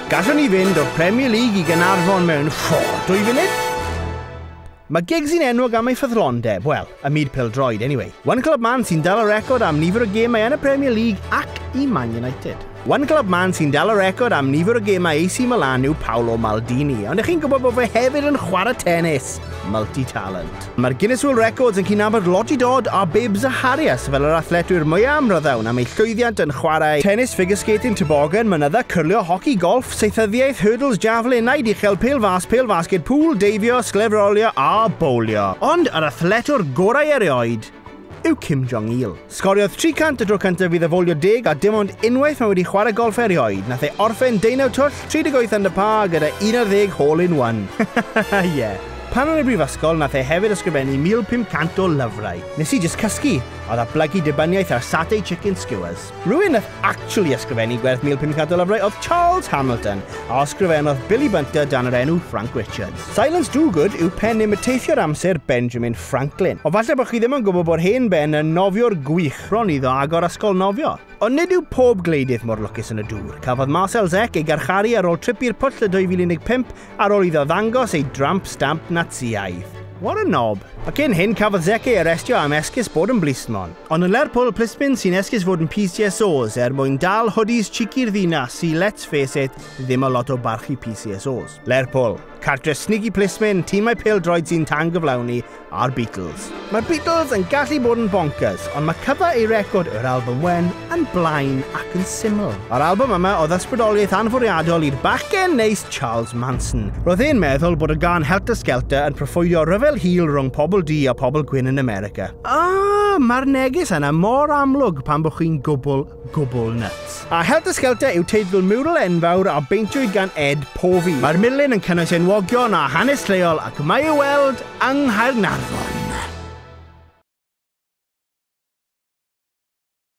Gallwn ni fynd o'r Premier League i Gaernarfon mewn, fo, dwy funud? Mae Giggs yn enwog am ei ffyddlondeb, wel, y myd pêl-droed, anyway. One Club Man sy'n dal y record am nifer o gemau yn y Premier League ac i Man United. One Club Man sy'n dal y record am nifer o gemau AC Milan yw Paolo Maldini, ond ych chi'n gwybod bod fe hefyd yn chwarae tennis? Multi-talent. Mae'r Guinness World Records yn cydnabod Lottie Dod a Bibbs a Harries fel yr athletwyr mwyaf amryddawn am eu llwyddiant yn chwarae tenis, figurskating, tobogan, mynydda, cyrlio, hoci, golff, saethyddiaeth, hurdles, javelin, naid uchel, pêl fas, pêl fasged, pŵl, deifio, sglefrolio a bowlio. Ond yr athletwr gorau erioed! yw Kim Jong-il. Sgoriodd 300 y tro cyntaf iddo fowlio deg a dim ond unwaith mae wedi chwarae golff erioed. Nath e orffen deunaw twll, 38 under par gyda 11 hole in one. Ie. yeah. Pan o'n y brifysgol, nath e hefyd ysgrifennu 1500 o lyfrau. Nes i just cysgu. Oedd a blygu dibyniaeth ar satay chicken skewers. Rhywun nath actually ysgrifennu gwerth 1500 o lyfrau oedd Charles Hamilton, a osgrifennodd Billy Bunter dan yr enw Frank Richards. Silence Do Good yw pen neu teithio'r amser Benjamin Franklin. Ond falle bod chi ddim yn gwybod bod hen ben yn nofiwr gwych bron iddo agor ysgol nofio. Ond nid yw pob gwleidydd mor lwcus yn y dŵr. Cafodd Marcel Zec ei garcharu ar ôl trip i'r pwll y 2015 ar ôl iddo ddangos ei dramp stamp Natsïaidd. What a knob! A cyn hyn cafodd Zec ei arestio am esgus bod yn blismon. Ond yn Lerpwl, plismyn sy'n esgus fod yn PCSOs er mwyn dal hoodies cheeky'r ddinas sy, let's face it, ddim â lot o barchu PCSOs. Lerpwl, cartre snigy plismyn, timau pêl-droed sy'n tan-gyflawni, a'r Beatles. Mae'r Beatles yn gallu bod yn bonkers, ond mae cyfa eu record yr albwm wen yn blaen ac yn syml. Yr albwm yma oedd ysbrydoliaeth anfwriadol i'r bachgen neis Charles Manson. Roedd e'n meddwl bod y gan Helter Skelter yn proffwydo rhyfel hil rhwng pobl du a pobl gwyn yn America. Ahh, mae'r neges yna mor amlwg pan bod chi'n gwbl gwbl nyts. A Helter Skelter yw teitl miwral enfawr a beintiwyd gan Ed Povey. Mae'r milin yn cynnwys enwogion a hanes lleol ac mae ei weld yng Nghaernarfon.